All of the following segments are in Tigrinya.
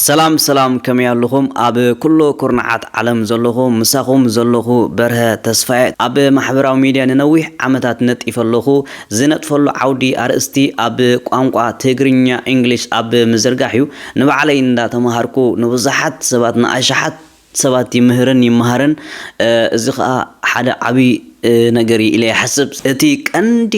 ሰላም ሰላም ከመይ ኣሉኹም ኣብ ኩሉ ኩርናዓት ዓለም ዘለኹ ምሳኹም ዘለኹ በርሀ ተስፋየ ኣብ ማሕበራዊ ሚድያ ንነዊሕ ዓመታት ነጢፈ ኣለኹ ዝነጥፈሉ ዓውዲ ኣርእስቲ ኣብ ቋንቋ ትግርኛ ኢንግሊሽ ኣብ ምዝርጋሕ እዩ ንባዕለይ እንዳተማሃርኩ ንብዙሓት ሰባት ንኣሽሓት ሰባት ይምህርን ይመሃርን እዚ ከኣ ሓደ ዓቢ ነገር እዩ ኢለ ይሓስብ። እቲ ቀንዲ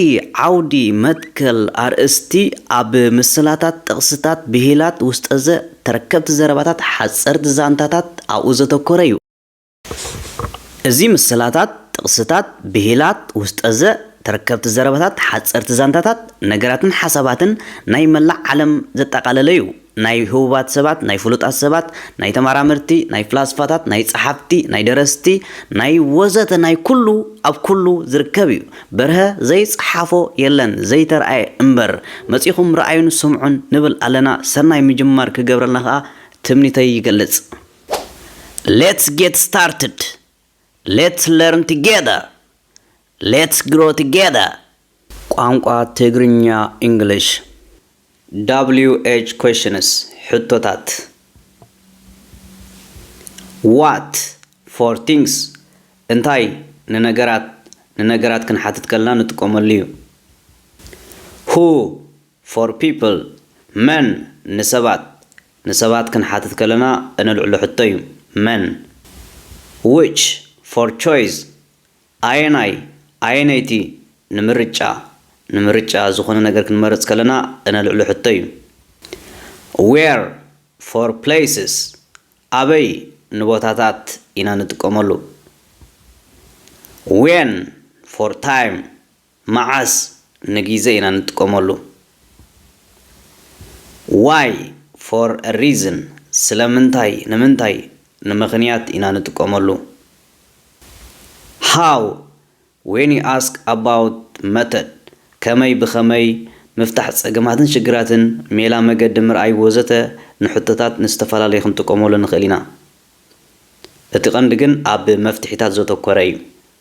ዓውዲ፣ መትከል፣ ኣርእስቲ ኣብ ምስላታት፣ ጥቕስታት፣ ብሂላት፣ ውስጠዘ፣ ተረከብቲ ዘረባታት፣ ሓጸርቲ ዛንታታት ኣብኡ ዘተኮረ እዩ። እዚ ምስላታት፣ ጥቕስታት፣ ብሂላት፣ ውስጠዘ፣ ተረከብቲ ዘረባታት፣ ሓጸርቲ ዛንታታት፣ ነገራትን ሓሳባትን ናይ መላእ ዓለም ዘጠቓለለ እዩ። ናይ ህቡባት ሰባት፣ ናይ ፍሉጣት ሰባት፣ ናይ ተማራመርቲ፣ ናይ ፍላስፋታት፣ ናይ ጸሓፍቲ፣ ናይ ደረስቲ፣ ናይ ወዘተ ናይ ኩሉ ኣብ ኩሉ ዝርከብ እዩ። በርሀ ዘይጸሓፎ የለን ዘይተርኣየ እምበር። መጺኹም ርኣዩን ስምዑን ንብል ኣለና ሰናይ ምጅማር ክገብረልና ከኣ ትምኒተይ ይገልጽ። Let's get started! ሌትስ ለርን ቱጌዘር ሌትስ ግሮ ቱጌዘር ቋንቋ ትግርኛ ኢንግሊሽ WH questions ሕቶታት What for things እንታይ ንነገራት ንነገራት ክንሓትት ከለና ንጥቀመሉ እዩ Who ፎር ፒፕል፣ መን፣ ንሰባት፣ ንሰባት ክንሓትት ከለና እነልዕሎ ሕቶ እዩ፣ መን፣ Which፣ ፎር ቾይስ፣ ኣየናይ፣ ኣየነይቲ፣ ንምርጫ፣ ንምርጫ፣ ዝኾነ ነገር ክንመርጽ ከለና እነልዕሎ ሕቶ እዩ፣ Where፣ ፎር ፕሌስስ፣ ኣበይ፣ ንቦታታት፣ ኢና ንጥቀመሉ፣ When፣ ፎር ታይም፣ መዓስ ንጊዘ ኢና ንጥቀመሉ? Why፣ For a reason፣ ስለምንታይ፣ ንምንታይ፣ ንምኽንያት፣ ኢና ንጥቀመሉ። How፣ When you ask about method፣ ከመይ፣ ብኸመይ፣ ምፍታሕ ጸገማትን ሽግራትን፣ ሜላ፣ መገዲ፣ ምርኣይ ወዘተ ንሕቶታት ንዝተፈላለዩ ክንጥቀመሉ ንኽእል ኢና። እቲ ቀንዲ ግን ኣብ መፍትሒታት ዘተኮረ እዩ።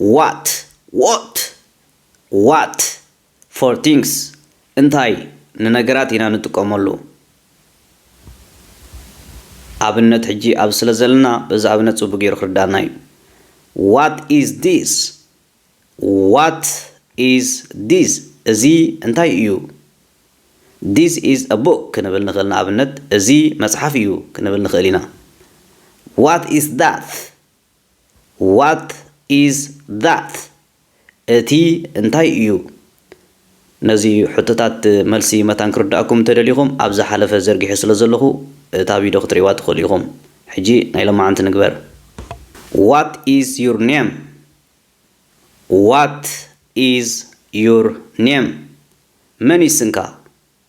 ዋት፣ What፣ ዋት፣ For things፣ እንታይ፣ ንነገራት ኢና ንጥቀመሉ። ኣብነት ሕጂ ኣብዚ ስለ ዘለና በዚ ኣብነት ጽቡቅ ጌሩ ክርድኣና እዩ። ዋት ኢዝ ዲስ፣ What is this፣ እዚ እንታይ እዩ። This is a book፣ ክንብል ንኽእል ንኣብነት እዚ መጽሓፍ እዩ ክንብል ንኽእል ኢና። ዋት ኢዝ ዳት፣ What is that? እቲ እንታይ እዩ? ነዚ ሕቶታት መልሲ መታን ክርድኣኩም እንተደሊኹም ኣብ ዝሓለፈ ዘርጊሐ ስለ ዘለኹ እታ ቪድዮ ክትርእይዋ ትኽእሉ ኢኹም። ሕጂ ናይ ሎማዓንቲ ንግበር። What is your name? What is your name? መን እዩ ስምካ?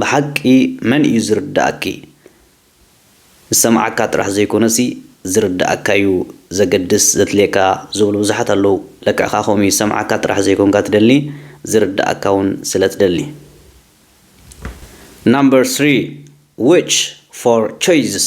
ብሓቂ መን እዩ ዝርደኣኪ ዝሰምዓካ ጥራሕ ዘይኮነሲ ዝርደኣካ እዩ ዘገድስ ዘድልየካ ዝብሉ ብዙሓት ኣለዉ ለክዕካ ከምኡ እዩ ዝሰምዓካ ጥራሕ ዘይኮንካ ትደሊ ዝርደኣካ ውን ስለ ትደሊ Number three which four choices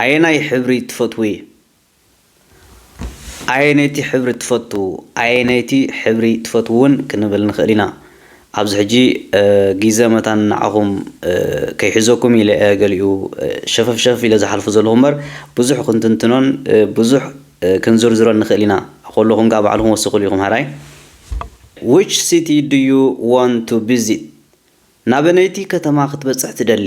ኣየናይ ሕብሪ ትፈትዊ? ኣየነይቲ ሕብሪ ትፈቱ? ኣየነይቲ ሕብሪ ትፈትዉ ውን ክንብል ንኽእል ኢና። ኣብዚ ሕጂ ጊዘ መታን ንዓኹም ከይሕዘኩም ኢለ እየ ገሊኡ ሸፈፍ ሸፈፍ ኢለ ዝሓልፎ ዘለኹ እምበር ብዙሕ ክንትንትኖን ብዙሕ ክንዝርዝሮን ንኽእል ኢና። ከለኹም ከኣ ባዕልኹም ወስኹሉ ኢኹም ሐራይ። Which city do you want to visit? ናበነይቲ ከተማ ክትበጽሕ ትደሊ?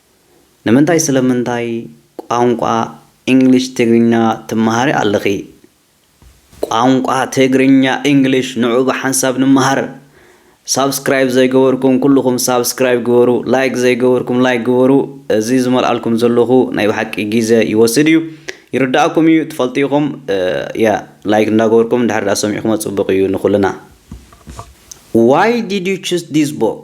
ንምንታይ ስለምንታይ ቋንቋ ኢንግሊሽ ትግርኛ ትመሃሪ ኣለኺ ቋንቋ ትግርኛ ኢንግሊሽ ንዑ ብሓንሳብ ንመሃር ሳብስክራይብ ዘይገበርኩም ኩሉኹም ሳብስክራይብ ግበሩ ላይክ ዘይገበርኩም ላይክ ግበሩ እዚ ዝመልኣልኩም ዘለኹ ናይ ብሓቂ ግዜ ይወስድ እዩ ይርዳእኩም እዩ ትፈልጡ ኢኹም ያ ላይክ እንዳገበርኩም ድሕር ዳ ሰሚዕኩሞ ጽቡቅ እዩ ንኹልና Why did you choose this book?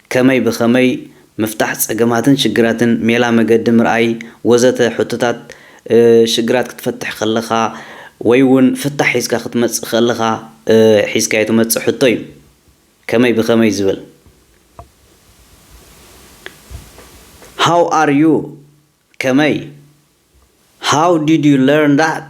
ከመይ ብኸመይ ምፍታሕ ጸገማትን ሽግራትን፣ ሜላ መገዲ ምርኣይ ወዘተ ሕቶታት ሽግራት ክትፈትሕ ከለኻ ወይ ውን ፍታሕ ሒዝካ ክትመጽእ ከለኻ ሒዝካዮ ትመጽእ ሕቶ ዩ። ከመይ ብኸመይ ዝብል How are you? ከመይ How did you learn that?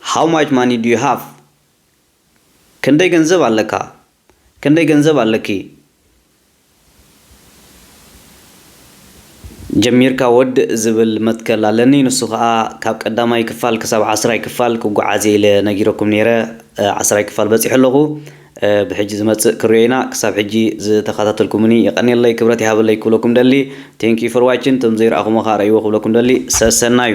How much money do you have? ክንደይ ገንዘብ ኣለካ? ክንደይ ገንዘብ ኣለኪ? ጀሚርካ ወድእ ዝብል መትከል ኣለኒ ንሱ ከኣ ካብ ቀዳማይ ክፋል ክሳብ ዓስራይ ክፋል ክጎዓዝየ ኢለ ነጊረኩም ኔረ ዓስራይ ክፋል በጺሐ ኣለኩ። ብሕጂ ዝመጽእ ክሪኦ ኢና ክሳብ ሕጂ ዝተካታተልኩሙኒ የቀንየለይ ክብረት ይሃበለይ ክብለኩም ደሊ thank you for watching እቶም ዘይረኣኩሞ ከኣ ረእይዎ ክብለኩም ደሊ ሰሰናዩ።